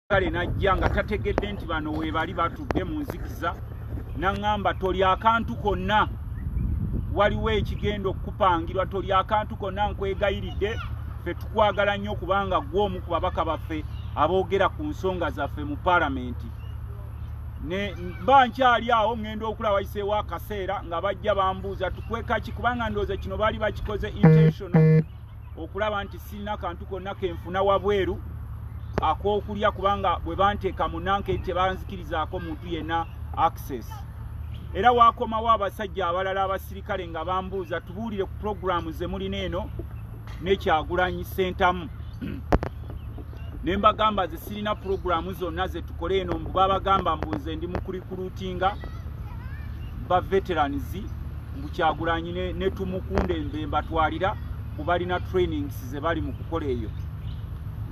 kale najja nga tategedde nti bano webali batudde mu nzikiza naŋŋamba toli akantu konna waliwo ekigenda okukupangirwa toli akantu konna nkwegayiridde fe tukwagala nnyo kubanga gwe omu ku babaka baffe aboogera ku nsonga zaffe mu palamenti mba nkyali awo ŋŋenda okula wayiseewo akaseera nga bajja bambuuza tukwekaki kubanga ndowooza kino baali bakikoze intentional okulaba nti sirina kantu konna kenfuna wabweru akokulya kubanga bwe banteeka mu nanke tebanzikirizaako muntu yenna access era wakomawo abasajja abalala abasirikale nga bambuuza tubuulire ku pulogulaamu ze mulina eno nekyagulanyi sentamu ne mbagamba ze sirina pulogulaamu zonna ze tukole eno mbu babagamba mbuuze ndi mukurikulutinga ba veterans mbu kyagulanyi ne, ne tumukunda embemba twalira kubalina trainings zebali mu kukola eyo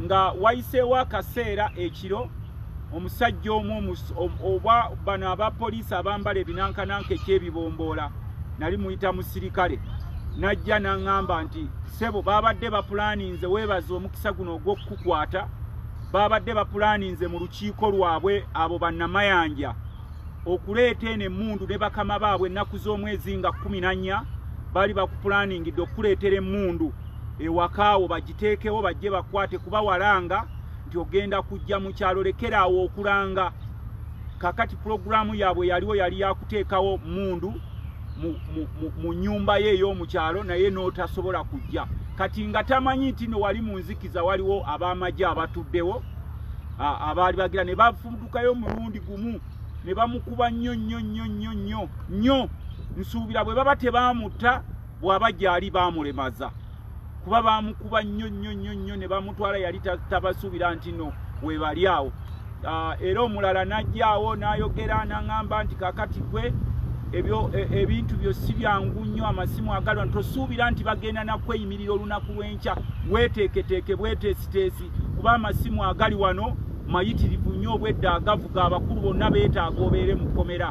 nga wayiseewo akaseera ekiro omusajja omu oba bano aba poliisi abambala ebinankananka ekyebibomboola nali muyita musirikale najja naŋŋamba nti sebo baabadde bapulaninze weebaza omukisa guno ogw'okukukwata baabadde bapulaninze mu lukiiko lwabwe abo bannamayanja okuleeta eno emmundu ne bakama baabwe ennaku z'omwezi nga kkumi na nnya baali bakupulaningidde okukuleetera emmundu ewakaawo bagiteekewo bajje bakwate kuba walanga nti ogenda kujja mu kyalo lekeraawo okulanga kakati pulogulaamu yaabwe yaliwo yali yakuteekawo mmundu mu nnyumba ye ey'omu kyalo naye n'otasobola kujja kati nga tamanyi nti no wali mu nzikiza waliwo ab'amagye abatuddewo abaali bagira ne bafu tukayo omulundi gumu ne bamukuba nnyo nnyo nnyo nnyo nnyo nnyo nsuubira bwe baba tebaamutta bw'aba gyali baamulemaza kuba baamukuba nnyo nnyo nnyo nnyo ne bamutwala yali tabasuubira nti no webali awo ah, era omulala n'ajjaawo n'ayogera n'aŋamba nti kakati gwe e, ebintu byo si byangu nnyo amasimu agalwa tosuubira nti bagenda nakweyimirira olunaku lw'enkya weeteeketeeke bweteesiteesi kuba amasimu agali wano mayitirivu nnyo obwedda agavuga abakulu bonna beetaaga obeere mu kkomera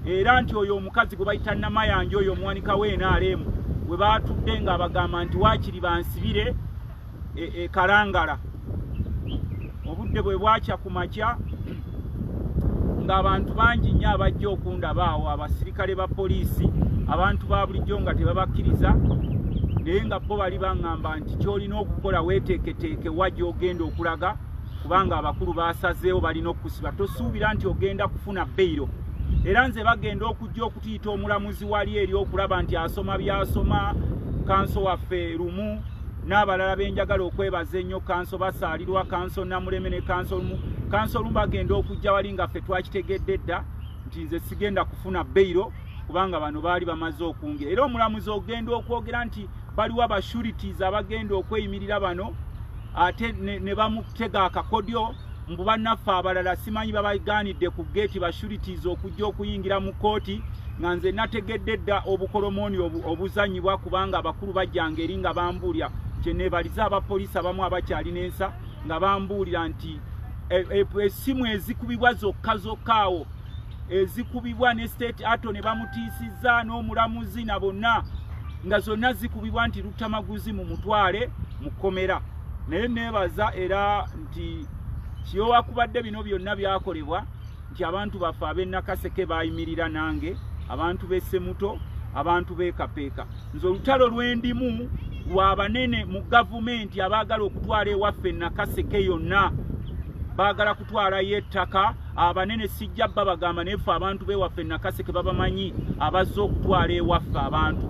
era nti oyo omukazi gwe bayita namayanja oyo omuwanika we nrm we baatudde nga abagamba nti waakiri bansibire e, e kalangala obudde bwe bwakya ku makya ng'abantu bangi nnyo abajja okundaba awo abasirikale ba poliisi abantu ba bulijjo nga tebabakkiriza naye nga bo bali baŋŋamba nti ky'olina okukola weeteeketeeke wa gy'ogenda okulaga kubanga abakulu baasazeewo balina okukusiba tosuubira nti ogenda kufuna beyiro era nze bagenda okujja okutuyita omulamuzi wali eri okulaba nti asoma byasoma kanso waffe lumu n'abalala benjagala okwebaza ennyo kanso basaalirwa kanso namuleme ne kanso lumu kanso lumu bagenda okujja wali nga ffe twakitegedde dda nti nze sigenda kufuna beyiro kubanga bano baali bamaze okunge era omulamuzi ogenda okwogera nti baliwo abashurities abagenda okweyimirira bano ate ne bamutega akakodyo mbu bannaffe abalala simanyi babaganidde ku geeti bashurities okujja okuyingira mu kkooti nga nze nategedde dda obukolomooni obuzanyibwa kubanga abakulu bajjanga eri nga bambuulira kyeneebaliza abapoliisi abamu abakyalina ensa nga bambuulira nti e, e, essimu ezikubibwa zokka zokka awo ezikubibwa ne state ato ne bamutiisizza n'omulamuzi na bonna nga zonna zikubibwa nti luttamaguzi mu mutwale mu kkomera naye neebaza era nti kiyowakubadde bino byonna byakolebwa nti abantu baffe ab'enakaseke baayimirira nange abantu b'essemuto abantu b'ekapeeka nze olutalo lwendimu lwa banene mu gavumenti abaagala okutwala ewaffe enakaseke yonna baagala kutwalayo ettaka abanene sijja babagamba naye ffe abantu bewaffe nakaseke babamanyi abazze okutwala ewaffe abantu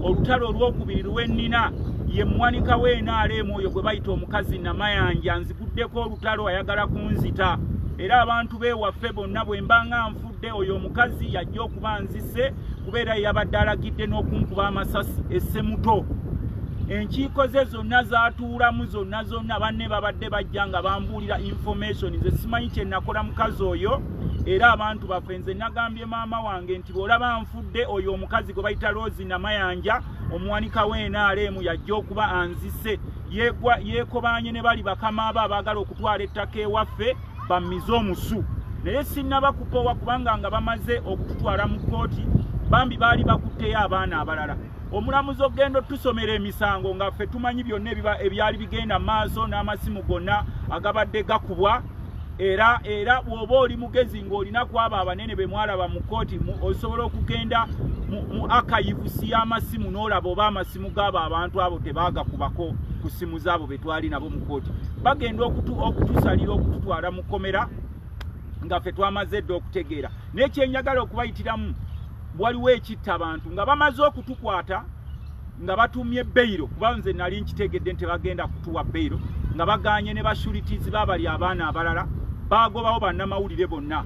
olutalo olwokubiri lwennina ye muwanika w'enaaleemu oyo gwe bayita omukazi namayanja nziguddeko olutalo ayagala kunzita era abantu bewaffe bonna bwe mbanga nfudde oyo omukazi yajja okuba nzise kuba era yeyabadde alagidde n'okunkuba amasasi esse muto enkiiko ze zonna zatuulamu zonna zonna banne babadde bajja nga bambuulira information ze simanyi kyenakola mukazi oyo era abantu baffe nze nagambye maama wange nti bwolaba nfudde oyo omukazi gwe bayita rosi namayanja omuwanika w'enaaleemu yajja okuba anzise yekobaanye ne bali bakama abo abaagala okutwala ettaka ewaffe bamize omusu naye sinnaba kukoowa kubanga nga bamaze okututwala mu kkooti bambi baali bakutteyo abaana abalala omulamuzi okugenda otusomera emisango nga ffe tumanyi byonna ebyali bigenda maaso n'amasimu gonna agabadde gakubwa era era bw'oba oli mugezi ng'olina kwabo abanene be mwalaba mu kkooti osobola okugenda mu akayivusi y'amasimu n'olaba oba amasimu gaabo abantu abo tebaagakubako ku ssimu zaabo twali nabo mu kooti bagenda okutusalira okututwala mu kkomera nga ffe twamaze dda okutegeera naye kyenjagala okubayitiramu waliwo ekitta abantu nga bamaze okutukwata nga batumye beyiro kuba nze nali nkitegedde nti bagenda kutuwa beyiro nga baganye ne bashuritizi babali abaana abalala bagobawo bannamawulire bonna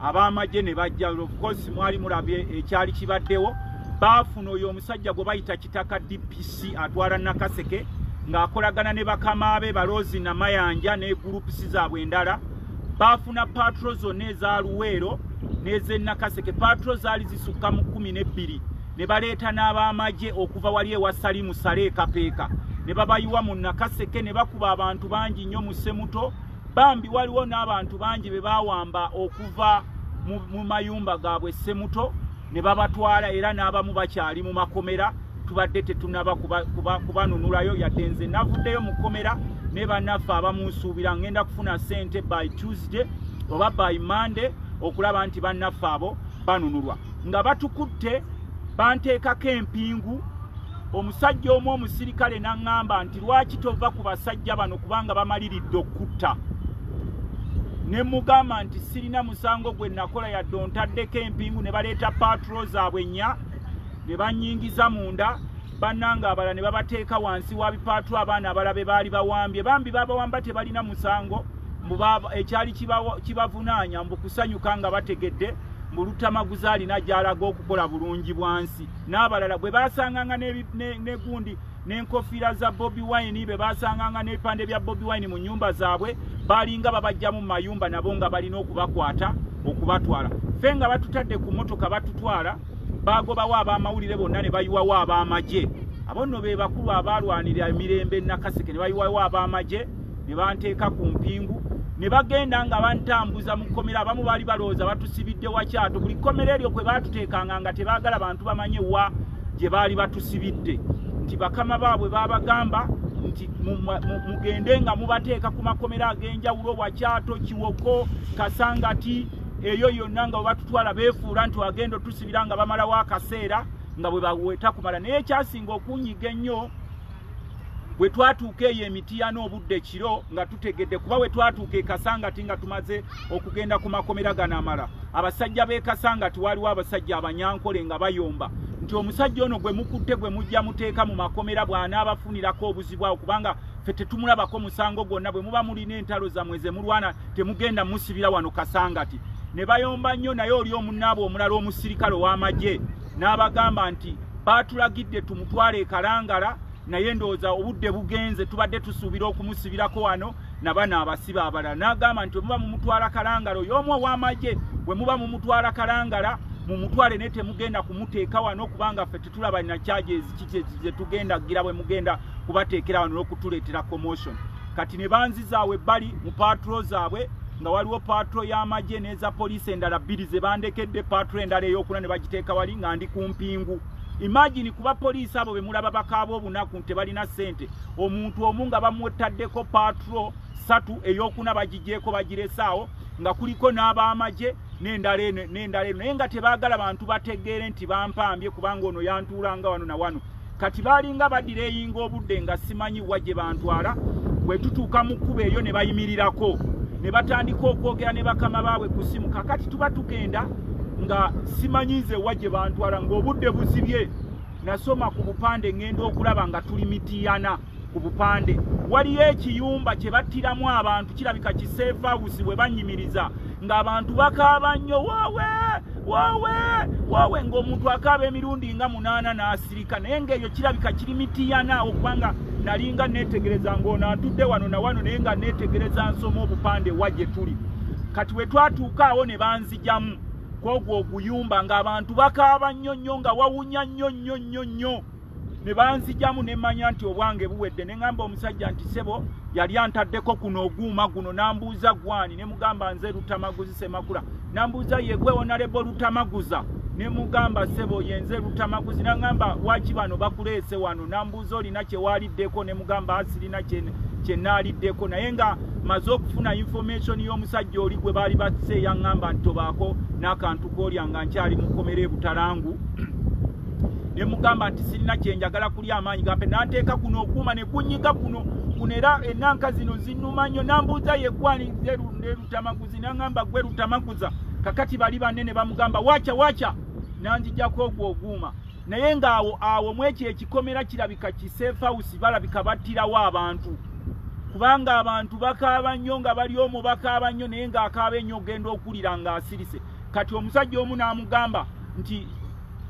ab'amagye ne bajja ofcourse mwali mulabye ekyali kibaddewo baafuna oyo omusajja gwe bayita kitaka dpc Olusi atwala Nakaseke ng'akolagana ne bakama be Balozi Namayanja ne gulupusi zaabwe endala baafuna patro zonna eza Luweero n'ez'e Nakaseke. Patro zaali zisukka mu kkumi n'ebbiri ne baleeta n'ab'amagye okuva wali ewa Salimu Sale Kapeeka ne babayiwa mu Nakaseke ne bakuba abantu bangi nnyo mu Semuto bambi waliwo n'abantu bangi be baawamba okuva mu mayumba gaabwe Semuto ne babatwala era n'abamu bakyali mu makomera. tubadde tetunaba kubanunulayo kuba, kuba yadde nze navuddeyo mu kkomera ne bannaffe abamunsuubira ngenda kufuna ssente by tuesday oba by monday okulaba nti bannaffe abo banunulwa nga batukutte banteekako empingu omusajja omu omusirikale n'aŋŋamba nti lwaki tova ku basajja bano kubanga bamaliridde okutta ne mugamba nti sirina musango gwe nakola yadde ontaddeko empingu ne baleeta paatro zaabwe nnya ne banyingiza munda bannange abala ne babateeka wansi wa bipaatu abaana abala be baali bawambye bambi babawamba tebalina musango ekyali kibavunaanya mbu kusanyuka nga bategedde mbu lutamaguza alina gyalaga okukola bulungi bwansi n'abalala bwe basanganga negundi n'enkofiira za bobi wine be basanganga n'ebipande bya bobi wine mu nyumba zaabwe balinga babajjamu mu mayumba nabo nga balina okubakwata okubatwala ffe nga batutadde ku motoka batutwala baagobawo ab'amawulire bonna ne bayiwawo ab'amagye abo nno be bakulu abaalwanira emirembe nakaseke ne bayiwawo ab'amagye ne banteeka ku mpingu ne bagenda nga bantambuza mu kkomera abamu baali balowooza batusibidde wakyato buli kkomera eryo kwe baatuteekanga nga tebaagala bantu bamanye wa gye baali batusibidde nti bakama baabwe baabagamba nti mugende nga mubateeka ku makomera ag'enjawulo wakyato kiwoko kasangati eyo yonna nga webatutwala beefuula nti agenda otusibira nga bamalawo akaseera nga bwe baweta kumala naye ekyasinga okunyiga ennyo bwe twatuuka eyo emitiya n'obudde kiro nga tutegedde kuba bwe twatuuka ekasangati nga tumaze okugenda ku makomera gano amala abasajja b'ekasangati waaliwo abasajja abanyankole nga bayomba nti omusajja ono gwe mukutte gwe mujja muteeka mu makomera bw'anaabafunirako obuzibu awo kubanga ffe tetumulabako musango gwonna bwe muba mulina entalo zammwe ze mulwana temugenda musibira wano kasangati ne bayomba nnyo naye oli omunaabwe omulala omusirikale ow'amagye n'abagamba nti baatulagidde tumutwale ekalangala naye ndowooza obudde bugenze tubadde tusuubira okumusibirako wano nabana abasiba abalala n'agamba nti omuba mumutwala kalangala oyo omu ow'amagye bwe muba mumutwala kalangala mumutwale naye temugenda kumuteeka wano kubanga fe tulaba na charges kiki kye tugenda gira bwe mugenda kubateekera wano n'okutuleetera commotion kati ne banzizaawe bali mu patro zaabwe nga waliwo patro y'amagye n'eza poliisi endala bbiri ze bandekedde patro endala ey'okuna ne bagiteeka wali nga ndi ku mpingu imagine kuba poliisi abo be mulaba bakaaba obunaku nti balina ssente omuntu omu nga bamwetaddeko patro satu ey'okuna bagigyeko bagiresaawo nga kuliko n'ab'amagye n'endala eno n'endala eno naye nga tebaagala bantu bategeere nti bampambye kubanga ono yantuulanga wano na wano kati baalinga baddira eyinga obudde nga simanyi wa gye bantwala bwe tutuuka mu kkuba eyo ne bayimirirako ne batandika okwogera ne bakama baabwe ku ssimu kakati tuba tugenda nga simanyi nze wa gye bantwala ng'obudde buzibye nasoma ku bupande ŋŋenda okulaba nga tuli mitiyana ku bupande waliyo ekiyumba kye battiramu abantu kirabika kiseefawusi bwe bannyimiriza ng'abantu bakaaba nnyo woowe woowe woowe ng'omuntu akaaba emirundi nga munaana n'asirika naye ng'eyo kirabika kiri mitiyana okubanga nali nga neetegereza ng'ono antudde wano na wano naye nga neetegereza nsoma obupande wa gye tuli kati we twatuuka awo ne banzijamu kwogwo oguyumba ng'abantu bakaaba nnyo nnyo nga wawunya nnyo nnyo nnyo nnyo ne banzijamu ne manya nti obwange buwedde ne ngamba omusajja nti sebo yali antaddeko kuno oguuma guno nambuuza gwani ne mugamba nze lutamaguzi semakula nambuuza yegwe onalebo lutamaguza ne mugamba sebo yenze lutamaguzi nangamba waki bano bakuleese wano nambuuza olina kyewaliddeko ne mugamba asirina kyene kyenaaliddeko naye nga maze okufuna information y'omusajja oli gwe baali batuse yaŋŋamba nti tobaako n'akantu koolya nga nkyali mukomera ebutalangu ne mugamba nti sirina kye njagala kulya amaanyi gampe nanteeka kuno okuuma ne kunyiga kuno kuno era enanka zino zinuma nnyo nambuuza yegwani ze lutamaguzi nangamba gwe lutamaguza kakati bali banne ne bamugamba wacha wacha nanzijako ogwo oguuma naye ng'awo awo mwekyo ekikomera kirabika kisefausi balabika battirawo abantu kubanga abantu bakaaba nnyo nga bali omu bakaaba nnyo naye ng'akaaba ennyo ogenda okuwulira ng'asirise kati omusajja omu n'amugamba nti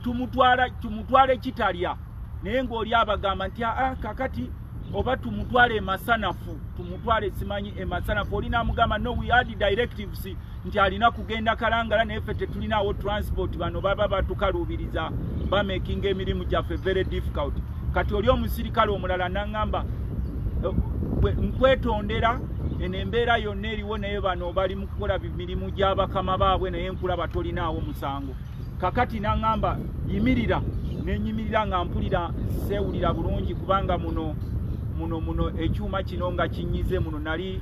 tumutwala tumutwale kitalya naye ng'oli abagamba nti aa kakati oba tumutwale emasanafu tumutwale simanyi emasanafu oli namugamba no we had directives nti alina kugenda kalangala naye ffe tetulinaawo transport bano baba batukaluubiriza bamakinga emirimu gyaffe very difficult kati oli omusirikale omulala naŋamba eh, nkwetondera eno embeera yonna eriwo naye bano bali mu kukola mirimu gy'abakama baabwe naye nkulaba tolinaawo musango kakati naŋŋamba yimirira nenyimirira nga mpulira seewulira bulungi kubanga muno muno muno ekyuma kino nga kinyize muno nali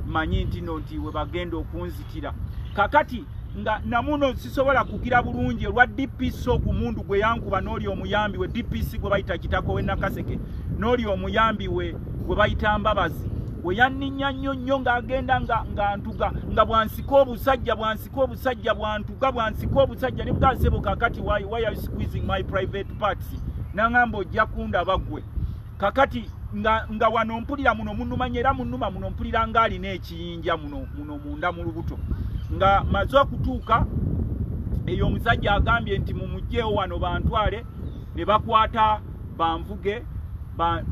manyi nti no nti we bagenda okunzitira kakati nga namuno sisobola kugira bulungi olwa dpc ogumundu gwe yankuba n'oli omuyambi we dpc gwe bayita kitako we nakaseke n'oli omuyambi we gwe bayita mbabazi we yanninya nnyo nnyo ng'agenda nga ntuga nga bwansika obusajja bwansi ko obusajja bwantuka bwansika obusajja ne bwasebo kakati why why are you squeezing my private parts nangamba ojja kunda bagwe kakati nga nga wano mpulira muno munumanya era munuma muno mpulira nga alina ekiyinja muno muno munda mu lubuto nga maze okutuuka eyo omusajja agambye nti mumugyewo wano bantwale ne bakwata banvuge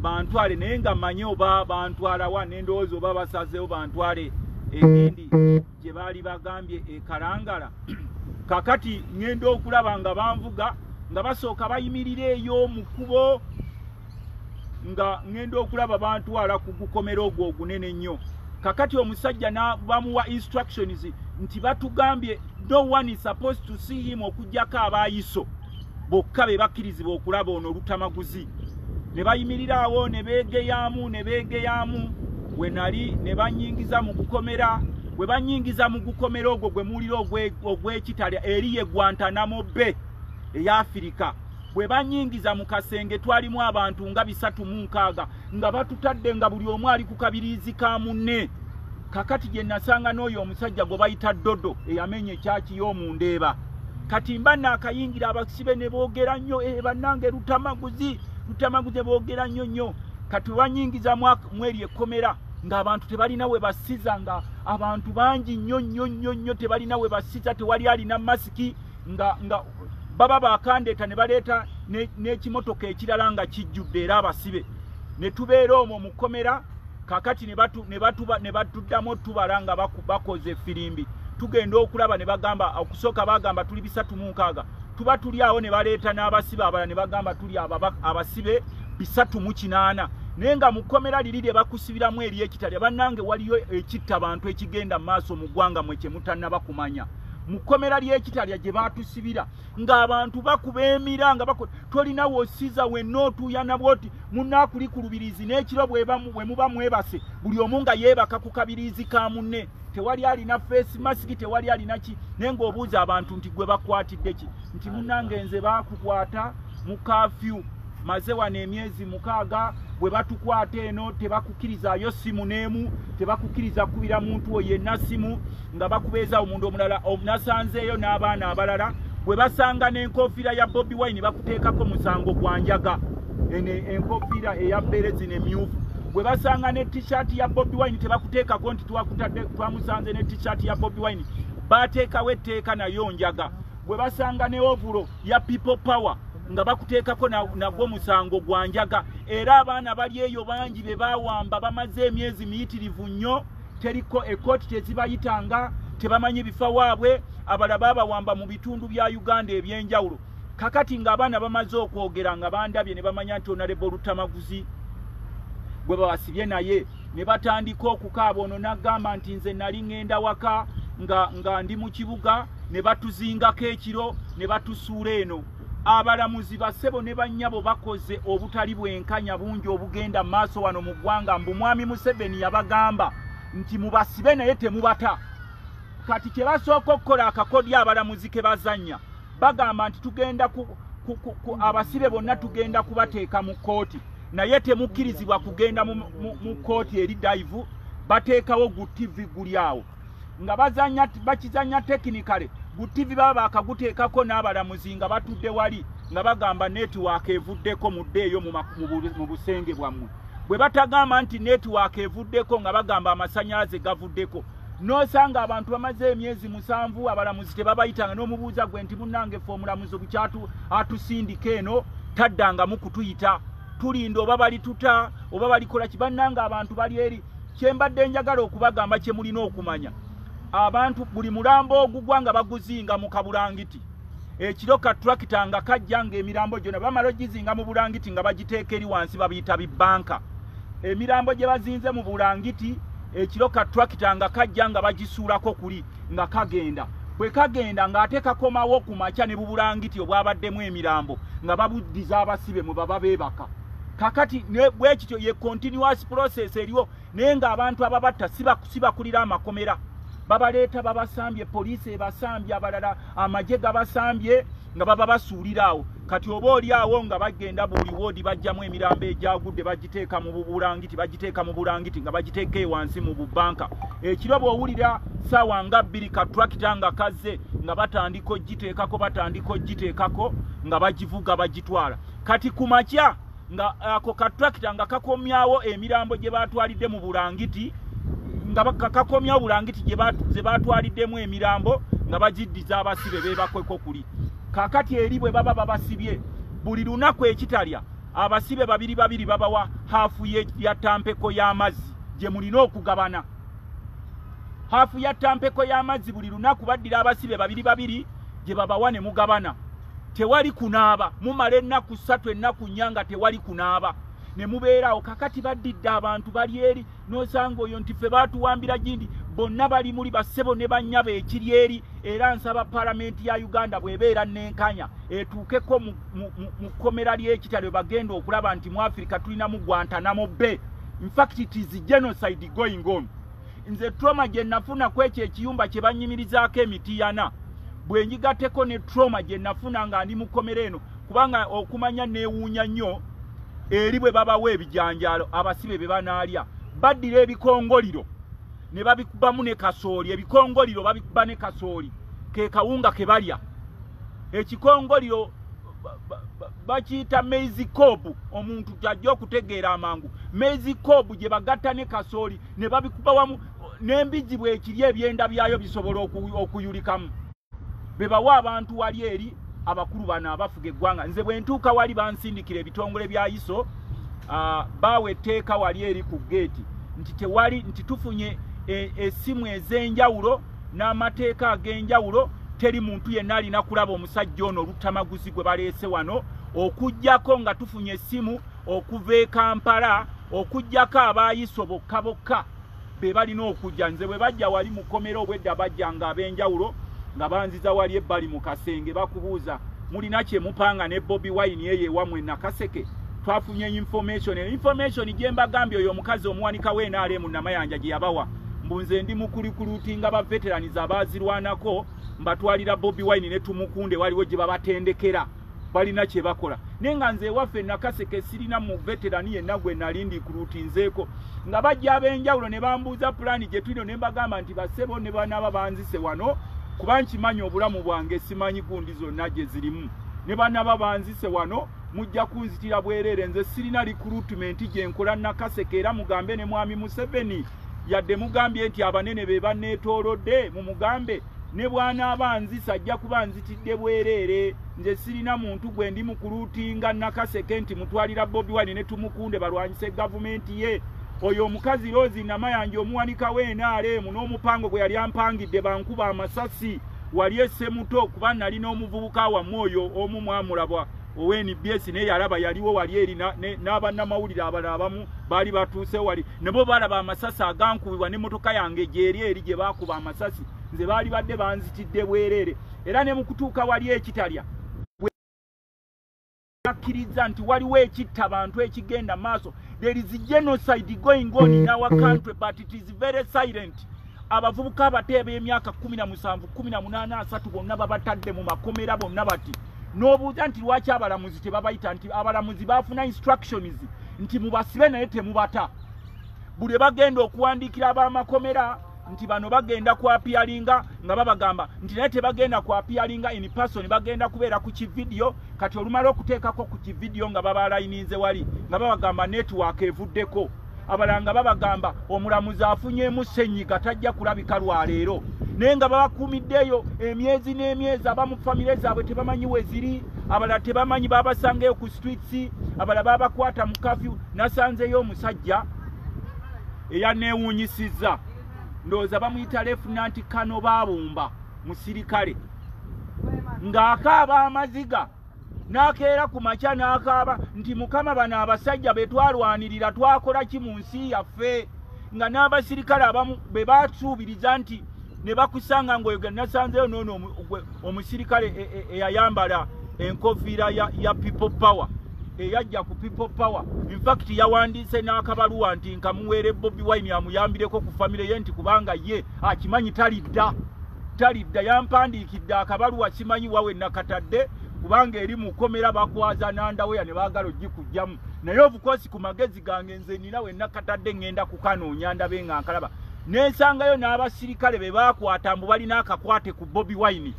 bantwale naye nga manye oba bantwala wa nendowooza oba basazeewo bantwale egendi gye baali bagambye e kalangala kakati ŋŋenda okulaba nga banvuga nga basooka bayimirira eyo mu kkubo nga ŋŋenda okulaba bantwala ku gukomera ogwo ogunene nnyo kakati omusajja bamuwa instructions nti batugambye no one is supposed to see him okugyako abaayiso bokka be bakkirizibwa okulaba ono olutamaguzi ne bayimiriraawo ne beegeyaamu ne beegeyaamu we nali ne banyingiza mu gukomera bwe banyingiza mu gukomera ogwo gwe muwulira ogw'ekitale eri ye gwantanamo be eya afirika bwe banyingiza mu kasenge twalimu abantu nga bisatu mu nkaaga nga batutadde nga buli omu ali ku kabiriizi ka munne kakati gye nasanga n'oyo omusajja gwe bayita dodo eyamenya ekyaki y'omu ndeeba kati mba naakayingira abasibe ne boogera nnyo e bannange lutamaguzi lutamaguzi boogera nnyo nnyo kati webanyingiza mweri ekkomera ng'abantu tebalina we basiza nga abantu bangi nnyo nnyo nnyo nnyo tebalina we basiza tewali alina masiki nga nga baba bakandeeta ne baleeta n'ekimotoka ekirala nga kijjudde era abasibe ne tubeera omwo mu kkomera kakati nebatuddamu otubala nga bakoze efirimbi tugenda okulaba ne bagamba okusooka bagamba tuli bisatu mu nkaaga tuba tuli awo ne baleeta n'abasibe abala ne bagamba tuli abasibe bisatu mu kinaana naye nga mu kkomera liri lye bakusibiramu eri ekitalya bannange waliyo ekitta bantu ekigenda mu maaso mu ggwanga mwe kye mutannaba kumanya mu kkomera ly'ekitalya gye baatusibira ng'abantu bakuba emira nga bakola tolina wosiza wenna otuuya nabwo ti munaakuli ku lubirizi n'ekiro bwe muba mwebase buli omu nga yeebaka ku kabirizi ka munne tewali alina feesi masiki tewali alina ki naye ng'obuuza abantu nti gwe bakwatidde ki nti munange nze baakukwata mu kafyu maze wano emyezi mukaaga bwe batukwata eno tebakukirizayo simu n'emu tebakukiriza kukubira muntu wo yenna simu nga bakubeeza omuntu omulala nasanzeeyo n'abaana abalala bwe basanga n'enkofiira ya bobi wine bakuteekako musango gwa njaga eno enkofiira eya bbeere zino emyufu bwe basanga ne tishaati ya bobi wine tebakuteekako nti twakutadde twamusanze ne tishaati ya bobi wine baateekawo etteeka nayo njaga bwe basanga ne ovulo ya people power nga bakuteekako nagwo musango gwa njaga era abaana bali eyo bangi be bawamba bamaze emyezi miyitirivu nnyo teriko ekooti tezibayitanga tebamanyi bifa waabwe abala babawamba mu bitundu bya uganda ebyenjawulo kakati ng'abaana bamaze okwogera nga bandabye ne bamanya nti onalebo olutamaguzi gwe bawasibye naye ne batandika okukaaba ono n'agamba nti nze nali ŋŋenda waka nga, nga ndi mu kibuga ne batuzingako ekiro ne batusuula eno abalamuzi basebo ne bannyabo bakoze obutali bwenkanya bungi obugenda mu maaso wano mu ggwanga mbu mwami museveni yabagamba nti mubasibe naye temubata kati kye basooka okukola akakodya abalamuzi ke bazannya bagamba nti tugenda ku, ku, ku, ku abasibe bonna tugenda kubateeka mu kkooti naye temukkirizibwa kugenda mu kkooti eri daivu bateekawo gu ttivi guli awo nga bazanya bakizanya technically gu TV baba bakaguteekako n'abalamuzi nga batudde wali nga bagamba network evuddeko muddeeyo mu busenge bwammwe bwe batagamba nti network evuddeko nga bagamba amasanyalaze gavuddeko nosanga abantu bamaze emyezi musanvu abalamuzi tebabayitanga n'omubuuza gwe nti munnange fe omulamuzi bukyatu atusindika eno taddangamu kutuyita tulinda oba balituta oba balikola kibannanga abantu bali eri kyembadde njagala okubagamba kye mulina okumanya abantu buli mulambo ogugwa nga baguzinga mu kabulangiti ekiro ka turakita nga kajja nga emirambo gyona bamala ogizinga mu bulangiti nga bagiteeka eri wansi babiyita bibanka emirambo gye bazinze mu bulangiti ekiro ka turakita nga kajja nga bagisuulako kuli nga kagenda bwe kagenda ng'ate kakomawo ku makya ne bubulangiti obwabaddemu emirambo nga babuddiza abasibe mwe baba beebaka kakati bwekityo ye continuous process eriwo naye nga abantu ababatta sibakulira amakomera babaleeta babasambye poliisi ebasambye abalala amagye gabasambye nga baba basuulira awo kati oba oli awo nga bagenda buli woodi bajjamu emirambo egyagudde bagiteeka mu bubulangiti bagiteeka mu bulangiti nga bagiteeka ewansi mu bubanka ekiro bw'owulira saawa nga bbiri ka turakita nga kazze nga batandika ogiteekako batandika ogiteekako nga bagivuga bagitwala kati ku makya nga ako ka tractor nga kakomyawo emirambo gye batwalidde mu bulangiti nga kakomyawo bulangiti gye batwaliddemu emirambo nga bagiddiza abasibe bebakweko kuli kakati eri bwe baba babasibye buli lunaku ekitalya abasibe babiri babiri babawa haafu ya tampeko y'amazzi gye mulina okugabana haafu ya tampeko y'amazzi buli lunaku baddira abasibe babiri babiri gye babawa ne mugabana tewali kunaaba mumala ennaku ssatu ennaku nnya nga tewali kunaaba ne mubeerawo kakati baddidde abantu bali eri n'osanga oyo nti ffe baatuwambira gindi bonna bali muli bassebo ne bannyabo ekiri eri era nsaba palamenti ya uganda bwebeera nenkanya etuukeko mu kkomera ly'ekitalo bagenda okulaba nti mu afirika tulinamu gwantanamo be infact it is genocide going on nze troma gye nafuna ku ekyo ekiyumba kye bannyimirizaako emitiyana bwe njigateko ne troma gye nafuna nga ndi mukomera eno kubanga okumanya neewuunya nnyo eri bwe babawa ebijanjaalo abasibe bye banaalya baddira ebikongoliro ne babikubamu ne kasooli ebikongoliro babikuba ne kasooli ke kawunga ke balya ekikongoliro bakiyita maizi kobu omuntu gyajja okutegeera amangu maizi kobu gye bagatta ne kasooli ne babikuba wamu n'embizzi bwekiri ebyenda byayo bisobola okuyulikamu bebawa abantu wali eri abakulu bano abafuga eggwanga nze bwe ntuuka wali bansindikira ebitongole bya iso uh, baawa etteeka wali eri ku geeti nti tewali nti tufunye e, esimu e, ez'enjawulo n'amateeka ag'enjawulo teri muntu yenna alina kulaba omusajja ono oluttamaguzi gwe baleese wano okugyako nga tufunye esimu okuva e kampala okugyako abaayiso bokka bokka be balina okujja nze bwe bajja wali mukomera obwedda bajja nga ab'enjawulo nga banziza wali ebbali mu kasenge bakubuuza mulina kye mupanga ne bobi wine eyo ewamwe nakaseke twafunye information eyo information gye mbagambye oyo omukazi omuwanika w'enaale mu namayanja gye yabawa mbu nze ndi mukulikulutinga baveteraniza abaazirwanako mbatwalira bobi wine ne tumukunde waliwo gye babatendekera balina kye bakola naye nga nze ewaffe nakaseke sirina mu veterani yenna gwe nali ndikulutinzeeko nga bajja ab'enjawulo ne bambuuza pulaani gye tulino ne mbagamba nti basebo ne banaaba banzise wano kuba nkimanyi obulamu bwange simanyi gundi zonna gye zirimu ne banaaba banzise wano mujja kunzitira bwereere nze sirina likulutimenti gye nkola nakaseke era mugambe ne mwami museveni yadde mugambye nti abanene be banneetoolodde mumugambe ne bw'anaaba anzisa ajja kuba anzitidde bwereere nze sirina muntu gwe ndi mukuluutinga nakaseke nti mutwalira bobi wine ne tumukunde balwanyise gavumenti ye oyo omukazi roosi namayanja omuwanika w'enaaleemu n'omupango gwe yali ampangidde bankuba amasasi wali esse muto kuba nali n'omuvubuka wamu oyo omu mwamulabwa ownbs naye yalaba yaliwo wali eri n'abannamawulire abalala abamu baali batuuse wali nebo balaba amasasi agankubibwa ne motoka yange gyeri eri gye bakuba amasasi nze baali badde banzitidde bwereere era ne mukutuuka wali ekitalya akkiriza nti waliwo ekitta bantu ekigenda maaso there is genocide going on in our country but it is very silent abavubuka abato eb'emyaka kumi na musanvu kumi na munaana asatu bonna babatadde mu makomera bonna bati n'obuuza nti lwaki abalamuzi tebabayita nti abalamuzi baafuna instructions nti mubasibe naye temubata buli bagenda okuwandiikira ab'amakomera nti bano bagenda kwapiyalinga nga babagamba nti naye tebagenda kwapiyalinga in person bagenda kubeera ku kividiyo kati olumala okuteekako ku kividiyo nga babalayininze wali nga babagamba netiwaaka evuddeko abalanga babagamba omulamuzi afunyemu senyiga tajja kulabika lwaleero naye nga babakuumiddeeyo emyezi n'emyezi aba mu famire zaabwe tebamanyi weziri abalala tebamanyi babasangaeyo ku streets abalala babakwata mu kafyu nasanzeeyo omusajja eyaneewuunyisizza ndowooza bamuyita lefunanti kano baabumba musirikale ng'akaaba amaziga n'akeera ku makya n'akaaba nti mukama bano abasajja be twalwanirira twakola ki mu nsi yaffe nga n'abasirikale abamu be basuubiriza nti ne bakusanga ng'oyo ge nasanzeyo noono omusirikale e, e, eyayambala enkofiira ya people power eyajja ku people power infact yawandiise n'akabaluwa nti nkamuweere bobi wine amuyambireko ku famire ye nti kubanga ye akimanyi talidda talidda yampandiikidde akabaluwa simanyi wawe nakatadde kubanga eri mu kkomera bakwaza nandaweya ne baagala ogikugjamu naye obukosi ku magezi gange nze nina we nakatadde ŋŋenda kukanoonya ndabe nga nkalaba nensangayo n'abasirikale be baakwata mbu balina akakwate ku bobi wine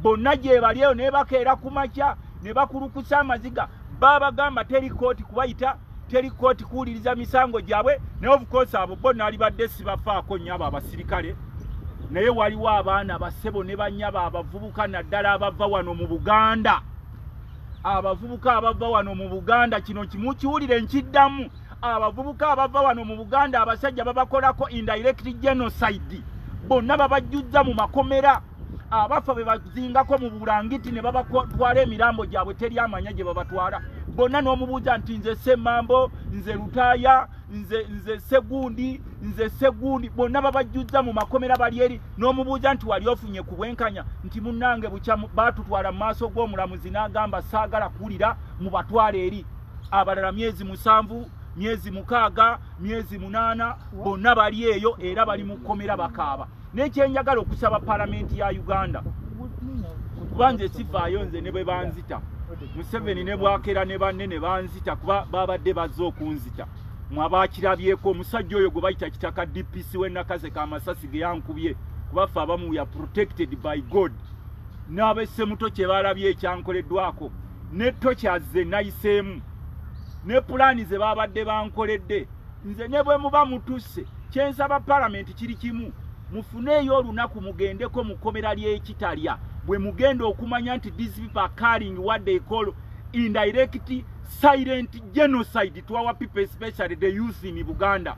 bonna gyebali eyo nebakeera ku makya ne bakulukusa amaziga babagamba teri kooti kubayita teri kooti kuwuliriza misango gyabwe naye obukosi abo bo nalibadde sibafaako nnyo abo abasirikale naye waliwo abaana basebo ne banyabo abavubuka naddala abava wano mu buganda abavubuka abava wano mu buganda kino kimu kiwulire nkiddamu abavubuka abava wano mu buganda abasajja babakolako indirect genocide bonna babajjuzza mu makomera abafa bebazingako mu bulangiti ne babatwala emirambo gyabwe teri amanya gye babatwala bonna n'omubuuza nti nze semambo nze lutaaya nze nze segundi nze segundi bonna babajjuzza mu makomera bali eri n'omubuuza nti wali ofunye ku bwenkanya nti munnange bukya baatutwala mu maaso g'omulamuzi n'agamba saagala kuwulira mu batwala eri abalala myezi musanvu myezi mukaaga myezi munaana bonna bali eyo era bali mu kkomera bakaaba nekyenjagala okusaba palamenti ya uganda kuba nze sivaayo nze ne bwe banzita museveni ne bwakera ne banne ne banzita kuba babadde bazze okunzita mwabakirabyeko omusajja oyo gwe bayita kitaka dpc wenakaze ka masasi ge yankubye kubaffe abamu ya protected by god n'abesemuto kye balabye ekyankoleddwako ne tokyaze nayiseemu ne pulaani ze babadde bankoledde nze ne bwe muba mutusse kyensaba palamenti kiri kimu mufuneeyo olunaku mugendeko mu kkomera ly'ekitalya bwe mugenda okumanya nti these people are carrying what they call indirect silent genocide to our people especially the youth in buganda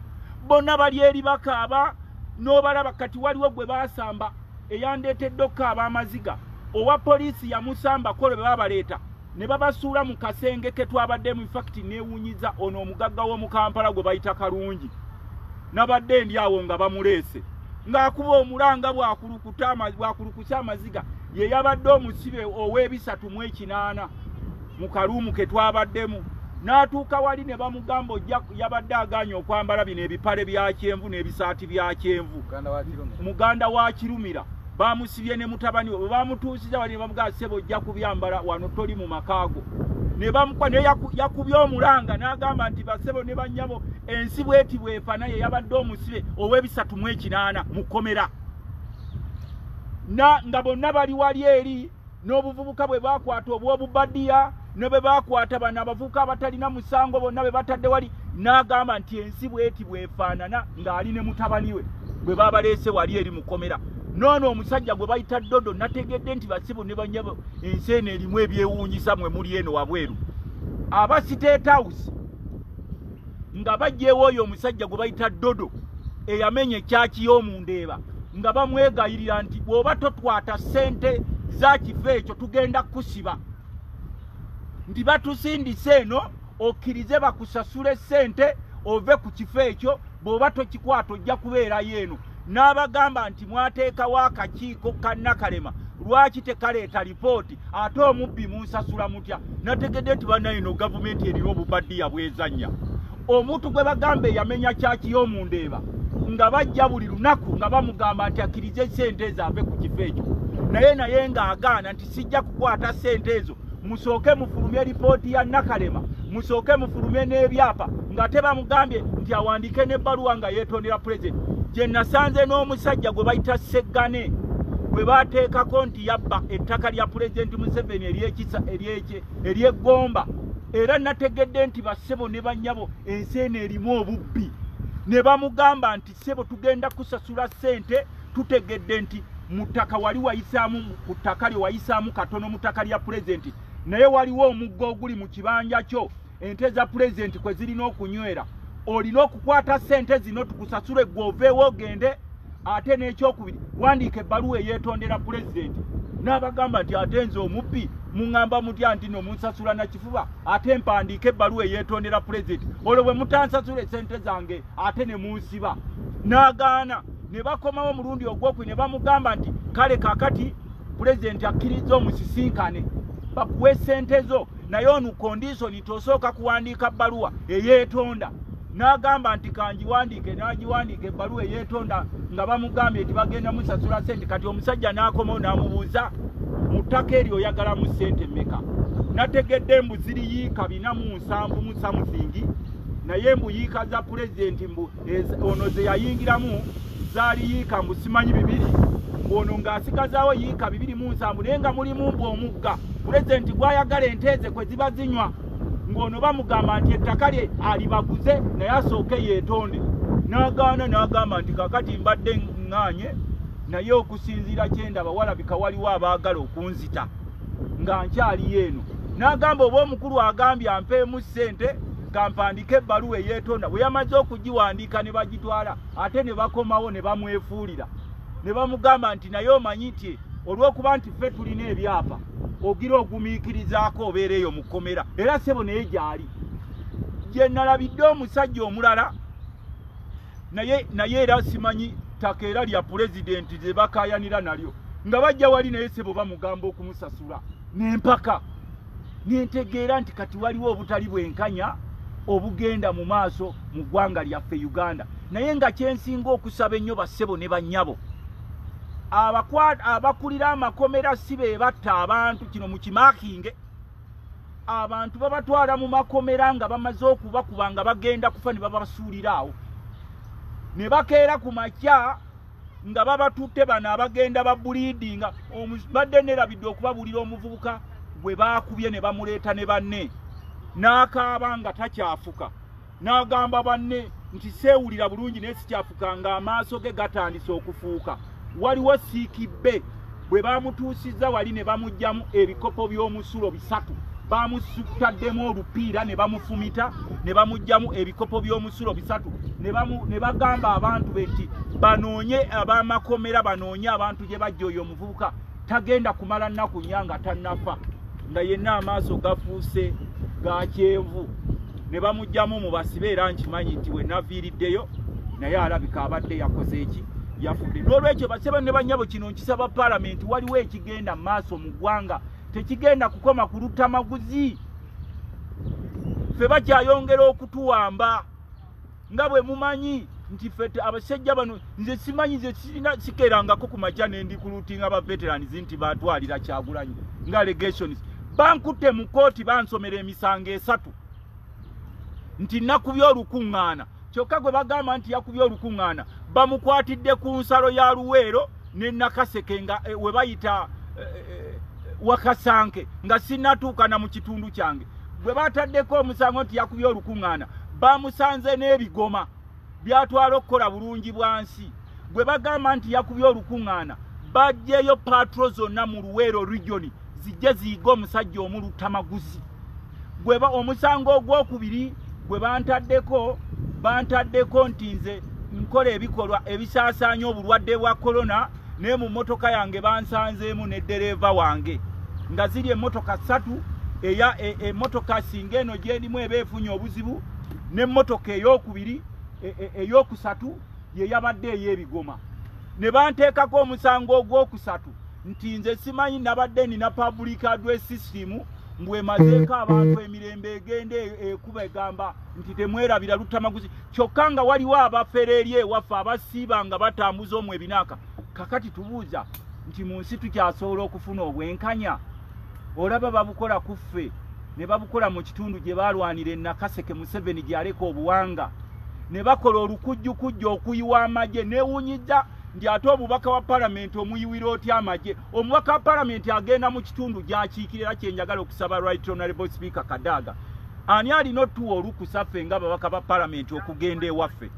bonna bali eri bakaaba n'obalaba kati waliwo gwe baasamba eyandeetedde okukaaba amaziga owa poliisi yamusambako lwe baabaleeta ne babasuula mu kasenge ke twabaddemu infakiti neewunyiza ono omugagga w'omu kampala gwe bayita kalungi nabadde ndi awo nga bamuleese ng'akuba omulanga bwakulukuse amaziga ye yabadde omusibe ow'ebisatu mu ekinaana mu kaluumu ke twabaddemu n'atuuka wali ne bamugamba ojja yabadde agaanye okwambala bino ebipale bya kyenvu n'ebisaati bya kyenvu muganda wa kirumira bamusibye ne mutabani we bamutuusiza wali bamugaa sebo ojja kubyambala wano toli mu makaago ne bamukuba naye yakubye omulanga n'agamba nti basebo ne bannyabo ensi bweti bwefa naye yabadde omusibe ow'ebisatu mu ekinaana mu kkomera na nga bonna bali wali eri n'obuvubuka bwe baakwata obw'obubadiya ne bwe baakwata bano abavubuka abatalina musango bonna be batadde wali n'agamba nti ensi bweti bwefaanana ng'ali ne mutabani we bwe baabaleese wali eri mukomera noono omusajja gwe bayita dodo nategedde nti basibu ne banyabo ensi eno erimu ebyewuunyisa mwe muli eno wabweru aba state house nga bajjeewo oyo omusajja gwe bayita dodo eyamenya ekyaki y'omundeeba nga bamwegayirira nti bw'oba totwata ssente za kifo ekyo tugenda kukusiba nti batusindise eno okkirize bakusasule ssente ove ku kifo ekyo bw'oba tokikwata ojja kubeerayo eno n'abagamba nti mwateekawo akakiiko ka nakalema lwaki tekaleeta lipooti ate omubbi munsasula mutya nategedde nti banayino gavumenti erina obubaddiya bwezanya omuntu gwe bagamba eyamenya kyaki y'omundeeba nga bajja buli lunaku nga bamugamba nti akkirize sente ezo ave ku kifo ekyo naye naye ng'agaana nti sijja kukwata sente ezo musooke mufulumye lipooti ya nakalema musooke mufulumye n'ebyapa nga te bamugambye nti awandiike n'ebbaluwa nga yeetondera pulezidenti gye nasanze n'omusajja gwe bayita seggane gwe baateekako nti yabba ettaka lya pulezidenti museveni eryekisa eryekye eryegomba era nategedde nti bassebo ne bannyabo ensi eno erimu obubbi ne bamugamba nti sebo tugenda kusasula sente tutegedde nti mutaka wali wayisaamu ku ttaka lye wayisaamu katono mu ttaka lya pulezidenti naye waliwo omugga oguli mu kibanja kyo ente za pulezidenti kwe zirina okunywera olina okukwata sente zino tukusasule gwe oveewo ogende ate n'ekyokubiri wandiika ebbaluwa eyeetondera pulezidenti n'abagamba nti ate nze omubbi muŋŋamba mutya nti no munsasula na kifuba ate mpandiika ebbaluwa eyeetondera pulezidenti olwo bwe mutansasula esente zange ate ne munsiba n'agaana ne bakomawo omulundi ogwokwe ne bamugamba nti kale kakati pulezidenti akkirizza omusisinkane bakuwa esente zo naye onu kondisoni tosooka kuwandiika bbaluwa eyeetonda n'agamba nti kangiwandiike n'agiwandiika ebbaluwa eyeetonda nga bamugambye nti bagenda musasula sente kati omusajja n'akomawo n'amubuuza mu ttaka eryo oyagalamu sente mmeka nategedde mbu ziriyiika binamu sambu mu something naye mbu yiika za pulezidenti mbu ono ze yayingiramu zaali yiika mbu simanyi bibiri mbu ono ng'asigazaawo yiika bibiri mu nsambu naye nga mulimu mbu omugga pulezidenti gw'ayagala enteeze kwe ziba zinywa ng'ono bamugamba nti ettaka lye alibaguze naye asooke yeetonde n'agaana n'agamba nti kakati mbadde ŋŋaanye naye okusinziira kye ndaba walabika waliwo abaagala okunzita nga nkyaliyo eno n'agamba oba omukulu agambye ampeemu ssente kampandika ebbaluwa eyeetonda bwe yamaze okugiwandiika ne bagitwala ate ne bakomawo ne bamwefuulira ne bamugamba nti naye omanyi nti olw'okuba nti ffe tulina ebyapa ogira ogumiikirizaako obeera eyo mu kkomera era ssebo naye gyali gye nalabidde omusajja omulala naye naye era simanyi ttaka era lya pulezidenti lye bakaayanira nalyo nga bajja wali naye sebo bamugamba okumusasula nempaka nentegeera nti kati waliwo obutali bwenkanya obugenda mu maaso mu ggwanga lyaffe uganda naye nga kyensinga okusaba ennyo bassebo ne bannyabo abakulira amakomera si be batta abantu kino mukimakinge abantu babatwala mu makomera nga bamaze okubakuba nga bagenda kufa ne babasuulira awo ne bakeera ku makya nga babatutte bano abagenda babuliidinga badde nerabidde okubabuulira omuvubuka gwe baakubye ne bamuleeta ne banne n'akaaba nga takyafuka n'agamba banne nti seewulira bulungi naye sikyafuka ng'amaaso ge gatandise okufuuka waliwo siikibbe bwe baamutuusizza wali ne bamuggyamu ebikopo by'omusulo bisatu baamusutaddemu olupiira ne bamufumita ne bamuggyamu ebikopo by'omusulo bisatu ne bagamba abantu be nti banoonye ab'amakomera banoonye abantu gye bajja oyo omuvubuka tagenda kumala nnaku nnya nga tannafa nga yenna amaaso gafuuse ga kyenvu ne bamugyamu mu basibe era nkimanyi nti we naviiriddeyo naye alabika abadde yakoze eki yafudde n'olwekyo baseba ne banyabo kino nkisaba palamenti waliwo ekigenda maaso mu ggwanga tekigenda kukoma ku lutamaguzi ffe bakyayongera okutuwamba nga bwe mumanyi nti fe abasajja bano nze simanyi nze sirina sikerangako ku makya ne ndi kulutinga ba veterans nti batwalira kyagulanyi nga allegations bankutte mu kkooti bansomera emisango esatu nti nakubye olukuŋŋaana kyokka gwe bagamba nti yakubye olukuŋŋaana bamukwatidde ku nsalo ya luweero ne nakaseke nga eh, webayita eh, eh, wakasanke nga sinatuuka na mu kitundu kyange bwe bataddeko omusango nti yakubye olukuŋŋaana bamusanze n'ebigoma byatwala okukola bulungi bwa nsi gwe bagamba nti yakubye olukuŋŋaana bajjeyo patro zonna mu luweero regioni zijje ziyiga omusajja omu luttamaguzi gweba omusango ogwokubiri gwe bantaddeko bantaddeko nti nze nkola ebikolwa ebisaasaanya obulwadde bwa korona naye mu mmotoka yange bansanzeemu ne ddereeva wange nga ziri emmotoka ssatu eya emmotoka e, singa eno gyerimu eba efunye obuzibu n'emmotoka eyokubiri e, e, eyokusatu ye yabadde ey'ebigoma ne banteekako omusango ogwokusatu nti nze simanyi nabadde nina public address system mbu emazeeko abantu emirembe egenda e, ekuba egamba nti temwerabira luttamaguzi kyokka nga waliwo abafere eri ewaffe abasiiba nga batambuza omu ebinaaka kakati tubuuza nti mu nsi tukyasobola okufuna obwenkanya olaba babukola ku ffe ne babukola mu kitundu gye baalwanira enakaseke museveni gyeyaleka obuwanga ne bakola olukujjukujja okuyiwa amagye newunyiza nti ate obubaka wa palamenti omuyiwira otya amagye omubaka wa palamenti agenda mu kitundu gyakiikira era kyenjagala okusaba right honorable speaker kadaaga ani alina otuwa olukusa ffe nga babaka ba palamenti okugenda ewaffe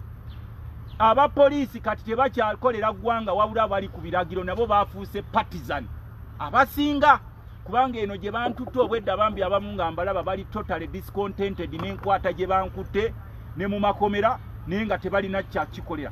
aba poliisi kati tebakyakolera ggwanga wabula abali ku biragiro nabo bafuuse partisan abasinga kubanga eno gye bantutte obwedda bambi abamu nga mbalaba bali totally discontented n'enkwata gye bankutte ne mu makomera naye nga tebalina kyakikolera